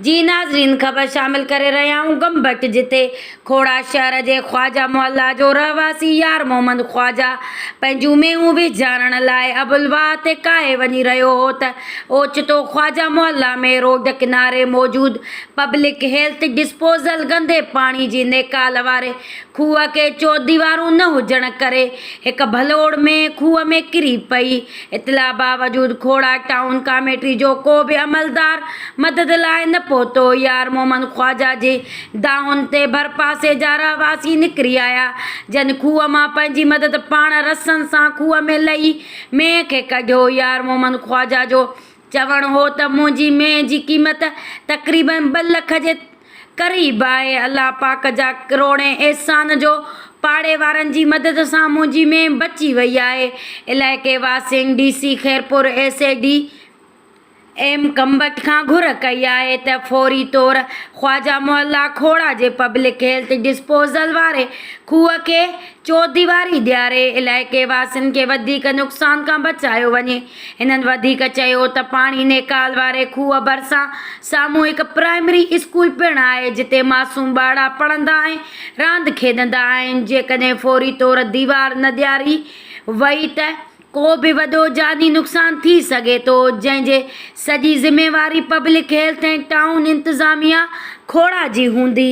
جي ناظرين خبر شامل ڪري رهيا آهيون گم بٽ جتي کوڙا شهر جي خواجه محله جو رهواسي يار محمد خواجه پنهنجون مينهون ويجهارڻ لاء ابوالواهه تي ڪاهي وڃي رهيو هو ته اوچتو خواجه محله ۾ روڊ ڪناري موجود پبلڪ هيلٿ ڊسپوزل گندي پاڻي جي نيڪال واري کوهه کي چوديوارون نه هجڻ ڪري هڪ ڀلوڙ ۾ کوهه ۾ ڪري پئي اطلاع باوجود کوڙاڪ ٽائون ڪاميٽي جو ڪو به عملدار مدد لاء نه پهتو، يار محمد خواجه جي دانهن تي ڀرپاسي جا رهواسي نڪري آيا، جن کوهه مان پنهنجي مدد پاڻ رسن سان کوهه ۾ لهي مينهن کي ڪڍيو، يار محمد خواجه جو چوڻ هو ته منهنجي مينهن جي قيمت تقريبن ٻه لک جي قريب آهي. الله پاڪ جا ڪروڙين احسان جو پاڙي وارن جي مدد سان منهنجي مينهن بچي وئي آهي. علائقي واسين D C Khairpur S A D M ڪمبٽ کان گهر ڪئي آهي ته فوري طور خواجه محله کهوڙا جي پبلڪ هيلٿ ڊسپوزل واري کوهه کي چوديواري ڏياري علائقي واسين کي وڌيڪ نقصان کان بچايو وڃي. هنن وڌيڪ چيو ته پاڻي نيڪال واري کوهه ڀرسان ساموهڪ پرائمري اسڪول پڻ آهي جتي معصوم ٻارڙا پڙهندا ۽ راند کيڏندا آهن جيڪڏهن فوري طور ديوار نه ڏياري وئي ته ڪو به وڏو جاني نقصان ٿي سگهي ٿو جنهن جي سڄي ذميواري پبلڪ هيلٿ ۽ ٽائون انتظاميا کوڙا جي هوندي.